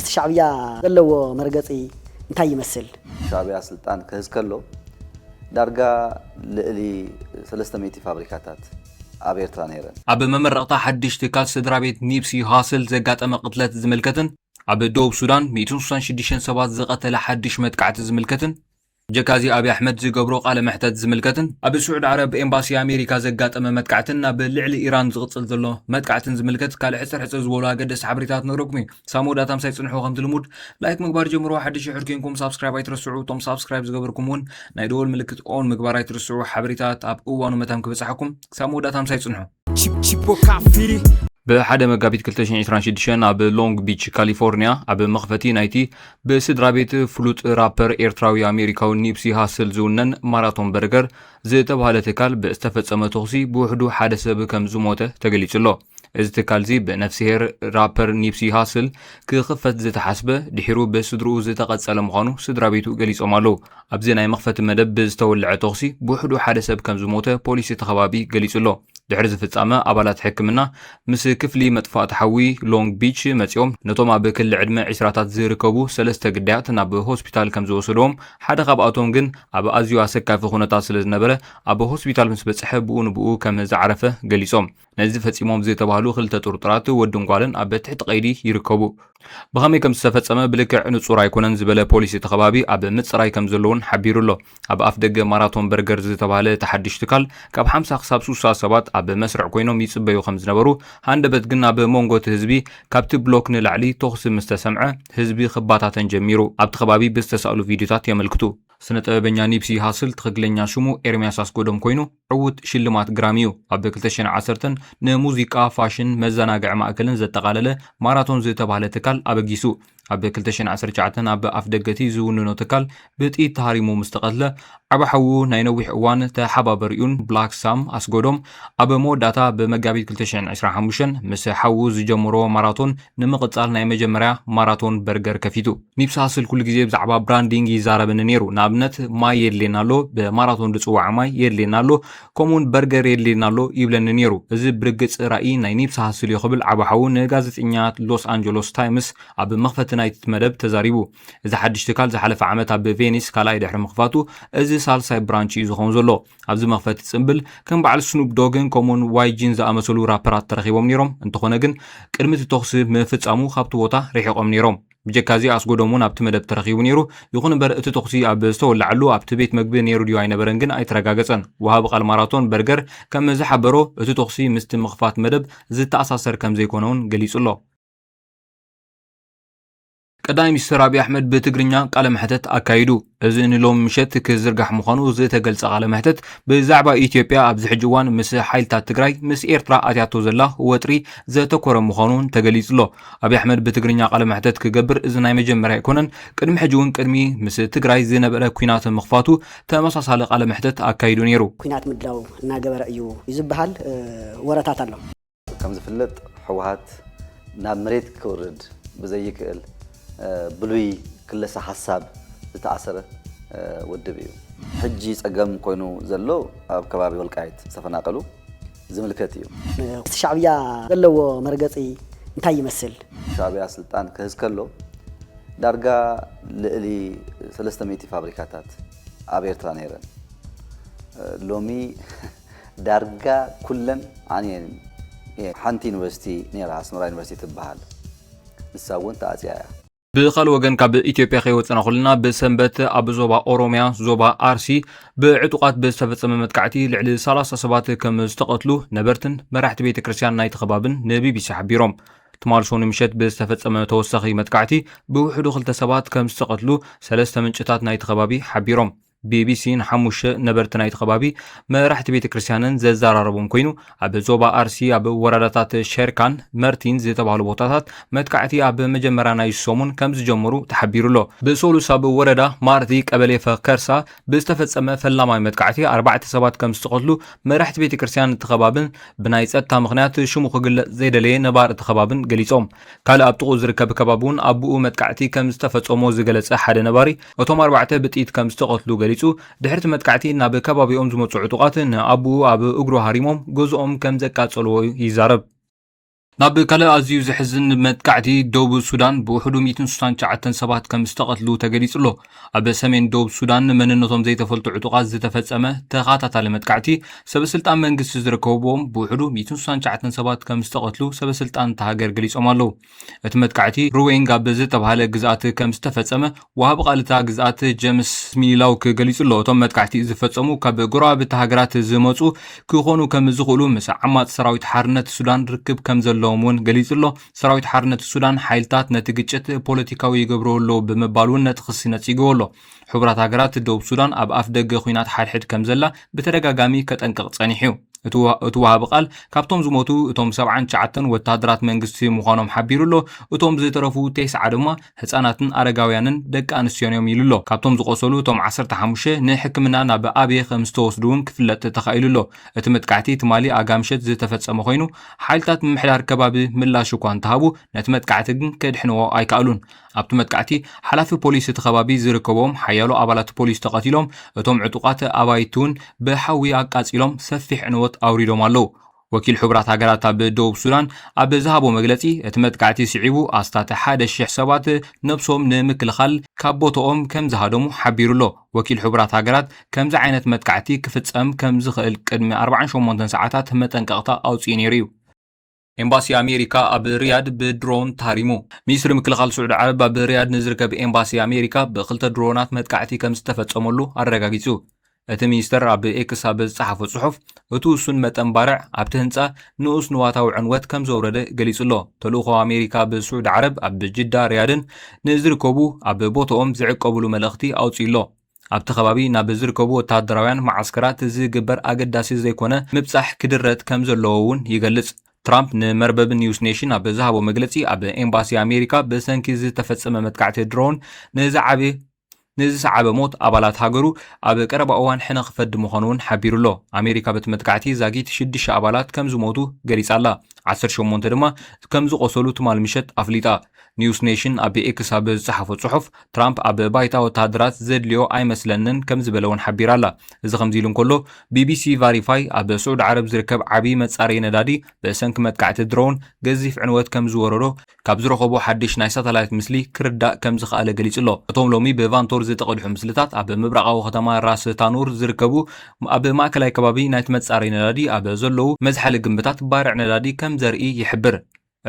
እቲ ሻዕብያ ዘለዎ መርገፂ እንታይ ይመስል? ሻዕብያ ስልጣን ክህዝ ከሎ ዳርጋ ልእሊ ሰለስተ ሚእቲ ፋብሪካታት ኣብ ኤርትራ ነይረን። ኣብ መመረቕታ ሓድሽ ትካል ስድራቤት ኒፕሲ ሃስል ዘጋጠመ ቅትለት ዝምልከትን ኣብ ደቡብ ሱዳን ሚእትን ሱሳን ሽዱሽተን ሰባት ዝቐተለ ሓድሽ መጥቃዕቲ ዝምልከትን ብጀካ እዚ ኣብይ ኣሕመድ ዝገብሮ ቃለ መሕተት ዝምልከትን ኣብ ስዑድ ዓረብ ኤምባሲ ኣሜሪካ ዘጋጠመ መጥቃዕትን ኣብ ልዕሊ ኢራን ዝቕፅል ዘሎ መጥቃዕትን ዝምልከት ካልእ ሕፅር ሕፅር ዝበሉ ኣገደስቲ ሓበሬታት ክነግረኩም እዩ ክሳብ መወዳእታ ምሳይ ፅንሑ ከምቲ ልሙድ ላይክ ምግባር ጀምሮ ሓድሽ ይሑድ ኮንኩም ሳብስክራይብ ኣይትረስዑ እቶም ሳብስክራይብ ዝገበርኩም እውን ናይ ደወል ምልክት ኦን ምግባር ኣይትረስዑ ሓበሬታት ኣብ እዋኑ መታን ክበፅሓኩም ክሳብ መወዳእታ ምሳይ ፅንሑ ብሓደ መጋቢት 2026 ኣብ ሎንግ ቢች ካሊፎርኒያ ኣብ መኽፈቲ ናይቲ ብስድራ ቤት ፍሉጥ ራፐር ኤርትራዊ ኣሜሪካዊ ኒፕሲ ሃስል ዝውነን ማራቶን በርገር ዝተባሃለ ትካል ብዝተፈጸመ ተኹሲ ብውሕዱ ሓደ ሰብ ከም ዝሞተ ተገሊጹ ኣሎ። እዚ ትካል እዚ ብነፍስሄር ራፐር ኒፕሲ ሃስል ክኽፈት ዝተሓስበ ድሒሩ ብስድርኡ ዝተቐጸለ ምዃኑ ስድራ ቤቱ ገሊጾም ኣለዉ። ኣብዚ ናይ መኽፈቲ መደብ ብዝተወልዐ ተኹሲ ብውሕዱ ሓደ ሰብ ከም ዝሞተ ፖሊስ እቲ ከባቢ ገሊጹ'ሎ። ድሕሪ እዚ ፍጻመ ኣባላት ሕክምና ምስ ክፍሊ መጥፋእቲ ሓዊ ሎንግ ቢች መጺኦም ነቶም ኣብ ክሊ ዕድመ ዒስራታት ዝርከቡ ሰለስተ ግዳያት ናብ ሆስፒታል ከም ዝወሰድዎም ሓደ ካብኣቶም ግን ኣብ ኣዝዩ ኣሰካፊ ኩነታት ስለ ዝነበረ ኣብ ሆስፒታል ምስ በጽሐ ብኡ ንብኡ ከም ዝዓረፈ ገሊጾም። ነዚ ፈጺሞም ዝተባህሉ ክልተ ጥርጡራት ወድን ጓልን ኣብ ትሕቲ ቀይዲ ይርከቡ። ብኸመይ ከም ዝተፈጸመ ብልክዕ ንጹር ኣይኮነን ዝበለ ፖሊስ እቲ ከባቢ፣ ኣብ ምጽራይ ከም ዘለዉን ሓቢሩ ኣሎ። ኣብ ኣፍደገ ማራቶን በርገር ዝተባህለ እቲ ሓድሽ ትካል፣ ካብ ሓምሳ ክሳብ ስሳ ሰባት ኣብ መስርዕ ኰይኖም ይጽበዩ ከም ዝነበሩ፣ ሃንደበት ግን ኣብ መንጎ እቲ ህዝቢ ካብቲ ብሎክ ንላዕሊ ተዅሲ ምስ ተሰምዐ፣ ህዝቢ ክበታተን ጀሚሩ ኣብቲ ከባቢ ብዝተሳእሉ ቪድዮታት የመልክቱ። ስነ-ጥበበኛ ኒፕሲ ሃስል ትኽክለኛ ሽሙ ኤርምያስ ኣስጎዶም ኰይኑ፣ ዕዉት ሽልማት ግራሚ እዩ። ኣብ ክልተ ሽሕን ዓሰርተን ንሙዚቃ፣ ፋሽን፣ መዘናግዒ ማእከልን ዘጠቓለለ ማራቶን ዝተባህለ ትካል ኣበጊሱ። ኣብ ክልተ ሽሕን ዓሰርተ ትሽዓተን ኣብ ኣፍደገ'ቲ ዝውንኖ ትካል ብጥይት ተሃሪሙ ምስ ተቐትለ፣ ዓቢ ሓዉ ናይ ነዊሕ እዋን ተሓባበሪኡን ብላክ ሳም ኣስጎዶም ኣብ መወዳእታ ብመጋቢት ክልተ ሽሕን ዕስራን ሓሙሽተን ምስ ሓዉ ዝጀመሮ ማራቶን ንምቕጻል ናይ መጀመርያ ማራቶን በርገር ከፊቱ። ኒብሳ ስል ኩሉ ግዜ ብዛዕባ ብራንዲንግ ይዛረበኒ ነይሩ። ንኣብነት ማይ የድልየና ኣሎ፣ ብማራቶን ዝጽዋዕ ማይ የድልየና ኣሎ፣ ከምኡውን በርገር የድልየና ኣሎ ይብለኒ ነይሩ። እዚ ብርግጽ ራኢ ናይ ኒብሳ ስል እዩ ክብል ዓቢ ሓዉ ንጋዜጠኛ ሎስ ኣንጀሎስ ታይምስ ኣብ መኽፈቲ ናይቲ መደብ ተዛሪቡ። እዚ ሓድሽ ትካል ዝሓለፈ ዓመት ኣብ ቬኒስ ካልኣይ ድሕሪ ምኽፋቱ እዚ ሳልሳይ ብራንች እዩ ዝኸውን ዘሎ። ኣብዚ መኽፈቲ ጽምብል ከም በዓል ስኑፕ ዶግን ከምኡውን ዋይጂን ዝኣመሰሉ ራፐራት ተረኺቦም ነይሮም፣ እንተኾነ ግን ቅድሚ እቲ ተኹሲ ምፍጻሙ ካብቲ ቦታ ርሒቖም ነይሮም። ብጀካዚ ኣስጎዶም እውን ኣብቲ መደብ ተረኺቡ ነይሩ፣ ይኹን እምበር እቲ ተኹሲ ኣብ ዝተወለዓሉ ኣብቲ ቤት መግቢ ነይሩ ድዩ ኣይነበረን ግን ኣይተረጋገጸን። ወሃቢ ቃል ማራቶን በርገር ከም ዝሓበሮ እቲ ተኹሲ ምስቲ ምኽፋት መደብ ዝተኣሳሰር ከም ዘይኮነ እውን ገሊጹ ኣሎ። ቀዳማይ ሚኒስትር ኣብዪ ኣሕመድ ብትግርኛ ቃለ መሕተት ኣካይዱ። እዚ ንሎሚ ምሸት ክዝርጋሕ ምዃኑ ዝተገልጸ ቃለ መሕተት ብዛዕባ ኢትዮጵያ ኣብዚ ሕጂ እዋን ምስ ሓይልታት ትግራይ ምስ ኤርትራ ኣትያቶ ዘላ ወጥሪ ዘተኮረ ምዃኑ እውን ተገሊጹ'ሎ። ኣብዪ ኣሕመድ ብትግርኛ ቃለ መሕተት ክገብር እዚ ናይ መጀመርያ ኣይኮነን። ቅድሚ ሕጂ እውን ቅድሚ ምስ ትግራይ ዝነበረ ኲናት ምኽፋቱ ተመሳሳሊ ቃለ መሕተት ኣካይዱ ነይሩ። ኲናት ምድላው እናገበረ እዩ እዩ ዝበሃል ወረታት ኣሎ። ከም ዝፍለጥ ሕወሓት ናብ መሬት ክውርድ ብዘይክእል ብሉይ ክለሳ ሓሳብ ዝተኣሰረ ውድብ እዩ። ሕጂ ጸገም ኮይኑ ዘሎ ኣብ ከባቢ ወልቃይት ዝተፈናቀሉ ዝምልከት እዩ። እቲ ሻዕብያ ዘለዎ መርገጺ እንታይ ይመስል? ሻዕብያ ስልጣን ክህዝ ከሎ ዳርጋ ልእሊ ሰለስተ ሚእቲ ፋብሪካታት ኣብ ኤርትራ ነይረን። ሎሚ ዳርጋ ኩለን ዓንየን እየን። ሓንቲ ዩኒቨርሲቲ ነይራ ኣስመራ ዩኒቨርሲቲ ትበሃል ንሳ እውን ተዓፅያ እያ። ብኻልእ ወገን ካብ ኢትዮጵያ ከይወፀና ኩልና ብሰንበት ኣብ ዞባ ኦሮሚያ ዞባ ኣርሲ ብዕጡቓት ብዝተፈፀመ መጥቃዕቲ ልዕሊ ሰላሳ ሰባት ከም ዝተቐትሉ ነበርትን መራሕቲ ቤተ ክርስቲያን ናይቲ ከባብን ንቢቢሲ ሓቢሮም። ትማል ሶኒ ምሸት ብዝተፈፀመ ተወሳኺ መጥቃዕቲ ብውሕዱ ክልተ ሰባት ከም ዝተቐትሉ ሰለስተ ምንጭታት ናይቲ ከባቢ ሓቢሮም። ቢቢሲ ንሓሙሽተ ነበርቲ ናይቲ ከባቢ መራሕቲ ቤተ ክርስቲያንን ዘዘራረቦም ኮይኑ ኣብ ዞባ ኣርሲ ኣብ ወረዳታት ሸርካን መርቲን ዝተባህሉ ቦታታት መጥቃዕቲ ኣብ መጀመርያ ናይ ሰሙን ከም ዝጀመሩ ተሓቢሩ ኣሎ። ብሰሉስ ኣብ ወረዳ ማርቲ ቀበሌ ፈከርሳ ብዝተፈጸመ ፈላማይ መጥቃዕቲ ኣርባዕተ ሰባት ከም ዝተቐትሉ መራሕቲ ቤተ ክርስቲያን እቲ ከባብን ብናይ ጸጥታ ምኽንያት ሽሙ ክግለጽ ዘይደለየ ነባሪ እቲ ከባብን ገሊጾም። ካልእ ኣብ ጥቕኡ ዝርከብ ከባቢ'ውን ኣቡኡ መጥቃዕቲ ከም ዝተፈጸሞ ዝገለጸ ሓደ ነባሪ፣ እቶም ኣርባዕተ ብጥይት ከም ዝተቐትሉ ገሊጹ። ድሕሪ'ቲ መጥቃዕቲ ናብ ከባቢኦም ዝመጹ ዕጡቓት ንኣቡኡ ኣብ እግሩ ሃሪሞም ገዝኦም ከም ዘቃጸልዎ ይዛረብ። ናብ ካልእ ኣዝዩ ዘሕዝን መጥቃዕቲ ዶብ ሱዳን ብውሕዱ ሚእትን ስሳን ትሽዓተን ሰባት ከም ዝተቐትሉ ተገሊጹ'ሎ። ኣብ ሰሜን ዶብ ሱዳን መንነቶም ዘይተፈልጡ ዕጡቓት ዝተፈጸመ ተኸታታሊ መጥቃዕቲ ሰበስልጣን መንግስቲ ዝርከብዎም ብውሕዱ 169 ሰባት ከም ዝተቐትሉ ሰበስልጣን እታ ሃገር ገሊጾም ኣለዉ። እቲ መጥቃዕቲ ሩዌንግ ኣብ ዝተባህለ ግዝኣት ከም ዝተፈጸመ ወሃቢ ቃል እታ ግዝኣት ጀምስ ሚላውክ ገሊጹ ኣሎ። እቶም መጥቃዕቲ ዝፈጸሙ ካብ ጎረባብቲ ሃገራት ዝመጹ ክኾኑ ከም ዝኽእሉ ምስ ዓማጺ ሰራዊት ሓርነት ሱዳን ርክብ ከም ዘለዎም እውን ገሊጹ ኣሎ። ሰራዊት ሓርነት ሱዳን ሓይልታት ነቲ ግጭት ፖለቲካዊ ይገብረዎ ኣለዉ ብምባል እውን ነቲ ክሲ ነጺግዎ ኣሎ። ሕቡራት ሃገራት ደቡብ ሱዳን ኣብ ኣፍ ደገ ኩናት ሓድሕድ ከም ዘላ ብተደጋጋሚ ከጠንቅቕ ጸኒሑ እዩ። እቲ ወሃቢ ቃል ካብቶም ዝሞቱ እቶም ሰብዓን ትሽዓተን ወተሃደራት መንግስቲ ምዃኖም ሓቢሩ ኣሎ፣ እቶም ዝተረፉ ቴስዓ ድማ ህጻናትን ኣረጋውያንን ደቂ ኣንስትዮን እዮም ኢሉ ኣሎ። ካብቶም ዝቖሰሉ እቶም ዓሰርተ ሓሙሽተ ንሕክምና ናብ ኣብየ ከም ዝተወስዱ እውን ክፍለጥ ተኻኢሉ ኣሎ። እቲ መጥቃዕቲ ትማሊ ኣጋ ምሸት ዝተፈጸመ ኮይኑ፣ ሓይልታት ምምሕዳር ከባቢ ምላሽ እኳ እንተሃቡ ነቲ መጥቃዕቲ ግን ከድሕንዎ ኣይከኣሉን። ኣብቲ መጥቃዕቲ ሓላፊ ፖሊስ እቲ ከባቢ ዝርከብዎም ሓያሎ ኣባላት ፖሊስ ተቐቲሎም፣ እቶም ዕጡቓት ኣባይቲ'ውን ብሓዊ ኣቃጺሎም ሰፊሕ ዕንወት ኣውሪዶም ኣለዉ። ወኪል ሕቡራት ሃገራት ኣብ ደቡብ ሱዳን ኣብ ዝሃቦ መግለጺ፣ እቲ መጥቃዕቲ ስዒቡ ኣስታት ሓደ ሽሕ ሰባት ነብሶም ንምክልኻል ካብ ቦታኦም ከምዝሃደሙ ሓቢሩ'ሎ። ወኪል ሕቡራት ሃገራት ከምዚ ዓይነት መጥቃዕቲ ክፍጸም ከም ዝኽእል ቅድሚ ኣርባዓን ሸሞንተን ሰዓታት መጠንቀቕታ ኣውጺኡ ነይሩ እዩ። ኤምባሲ ኣሜሪካ ኣብ ሪያድ ብድሮን ተሃሪሙ። ሚኒስትሪ ምክልኻል ስዑዲ ዓረብ ኣብ ሪያድ ንዝርከብ ኤምባሲ ኣሜሪካ ብክልተ ድሮናት መጥቃዕቲ ከም ዝተፈጸመሉ ኣረጋጊጹ። እቲ ሚኒስተር ኣብ ኤክስ ኣብ ዝጸሓፎ ጽሑፍ፣ እቲ ውሱን መጠን ባርዕ ኣብቲ ህንጻ ንኡስ ንዋታዊ ዕንወት ከም ዘውረደ ገሊጹ ኣሎ። ተልእኾ ኣሜሪካ ብ ስዑዲ ዓረብ ኣብ ጅዳ ሪያድን ን ዝርከቡ ኣብ ቦቶኦም ዝዕቀቡሉ መልእኽቲ ኣውጺኡ ኣሎ። ኣብቲ ከባቢ ናብ ዝርከቡ ወተሃደራውያን መዓስከራት ዝግበር ኣገዳሲ ዘይኮነ ምብጻሕ ክድረት ከም ዘለዎ እውን ይገልጽ። ትራምፕ ንመርበብ ኒውስ ኔሽን ኣብ ዝሃቦ መግለጺ ኣብ ኤምባሲ ኣሜሪካ ብሰንኪ ዝተፈጸመ መጥቃዕቲ ድሮን ንዝዓበየ ንዝሰዓበ ሞት ኣባላት ሃገሩ ኣብ ቀረባ እዋን ሕነ ክፈዲ ምዃኑ'ውን ሓቢሩ'ሎ። ኣሜሪካ በቲ መጥቃዕቲ ዛጊት ሽዱሽተ ኣባላት ከም ዝሞቱ ገሊጻ'ላ። ዓሰርተ ሸሞንተ ድማ ከም ዝቖሰሉ ትማል ምሸት ኣፍሊጣ። ኒውስ ኔሽን ኣብ ኤክስ ኣብ ዝጸሓፎ ጽሑፍ፣ ትራምፕ ኣብ ባይታ ወተሃደራት ዘድልዮ ኣይመስለንን ከም ዝበለ'ውን ሓቢራ'ላ። እዚ ከምዚ ኢሉ እንከሎ፣ ቢቢሲ ቫሪፋይ ኣብ ስዑዲ ዓረብ ዝርከብ ዓቢ መጻረዪ ነዳዲ ብሰንኪ መጥቃዕቲ ድሮን ገዚፍ ዕንወት ከም ዝወረዶ ካብ ዝረኸቦ ሓድሽ ናይ ሳተላይት ምስሊ ክርዳእ ከም ዝኸኣለ ገሊጹ'ሎ። እቶም ሎሚ ብቫንቶር ዝተቐድሑ ምስልታት፣ ኣብ ምብራቓዊ ከተማ ራስ ታኑር ዝርከቡ ኣብ ማእከላይ ከባቢ ናይቲ መጻረዪ ነዳዲ ኣብ ዘለዉ መዝሓሊ ግምብታት ባርዕ ነዳዲ ከም ዘርኢ ይሕብር።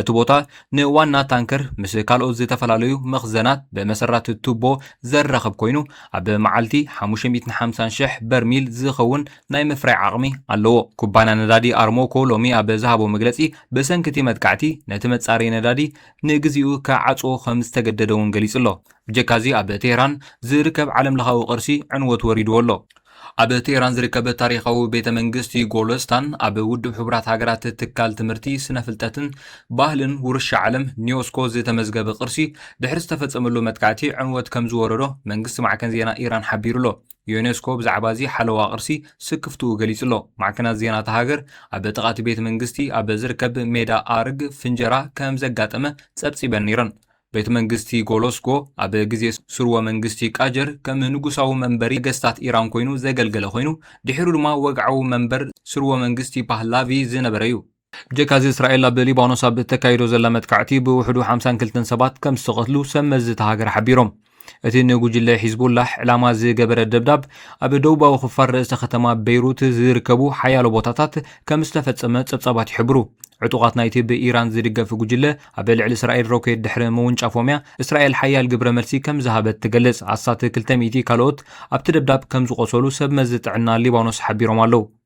እቲ ቦታ ንዋና ታንከር ምስ ካልኦት ዝተፈላለዩ መኽዘናት ብመሰረት ቱቦ ዘራኽብ ኰይኑ፣ ኣብ መዓልቲ ሓሙሽተ ሚእትን ሓምሳን ሽሕ በርሚል ዝኸውን ናይ ምፍራይ ዓቕሚ ኣለዎ። ኩባንያ ነዳዲ ኣርሞኮ ሎሚ ኣብ ዝሃቦ መግለጺ፣ ብሰንኪ እቲ መጥቃዕቲ ነቲ መጻረዪ ነዳዲ ንግዚኡ ክዓጽዎ ከም ዝተገደደ'ውን ገሊጹ ኣሎ። ብጀካ'ዚ ኣብ ቴህራን ዝርከብ ዓለምለኻዊ ቅርሲ ዕንወት ወሪድዎ ኣሎ። ኣብ ቴህራን ዝርከብ ታሪኻዊ ቤተ መንግስቲ ጎሎስታን ኣብ ውድብ ሕቡራት ሃገራት ትካል ትምህርቲ፣ ስነ ፍልጠትን ባህልን ውርሻ ዓለም፣ ኒዮስኮ፣ ዝተመዝገበ ቅርሲ ድሕሪ ዝተፈጸመሉ መጥቃዕቲ ዕንወት ከም ዝወረዶ መንግስቲ ማዕከን ዜና ኢራን ሓቢሩ ኣሎ። ዩኔስኮ ብዛዕባ'ዚ ሓለዋ ቅርሲ ስክፍትኡ ገሊጹ'ሎ። ማዕከናት ዜና እታ ሃገር፣ ኣብ ጥቓ'ቲ ቤት መንግስቲ ኣብ ዝርከብ ሜዳ ኣእርግ ፍንጀራ ከም ዘጋጠመ ጸብጺበን ነይረን። ቤት መንግስቲ ጎሎስጎ፣ ኣብ ግዜ ስርወ መንግስቲ ቃጀር ከም ንጉሳዊ መንበሪ ነገስታት ኢራን ኰይኑ ዘገልገለ ኰይኑ፣ ድሒሩ ድማ ወግዓዊ መንበር ስርወ መንግስቲ ፓህላቪ ዝነበረ'ዩ። ብጀካ'ዚ እስራኤል ኣብ ሊባኖስ ኣብ እተካይዶ ዘላ መጥቃዕቲ ብውሕዱ ሓምሳን ክልተን ሰባት ከም ዝተቐትሉ ሰብ መዚ እታ ሃገር ሓቢሮም። እቲ ንጉጅለ ሒዝቡላህ ዕላማ ዝገበረ ደብዳብ ኣብ ደቡባዊ ክፋል ርእሰ ከተማ በይሩት ዝርከቡ ሓያሎ ቦታታት ከም ዝተፈጸመ ጸብጻባት ይሕብሩ። ዕጡቓት ናይቲ ብኢራን ዝድገፍ ጉጅለ ኣብ ልዕሊ እስራኤል ሮኬት ድሕሪ ምውንጫፎም'ያ እስራኤል ሓያል ግብረ መልሲ ከም ዝሃበት ትገልጽ። ኣስታት ክልተ ሚእቲ ካልኦት ኣብቲ ደብዳብ ከም ዝቖሰሉ ሰብ መዚ ጥዕና ሊባኖስ ሓቢሮም ኣለዉ።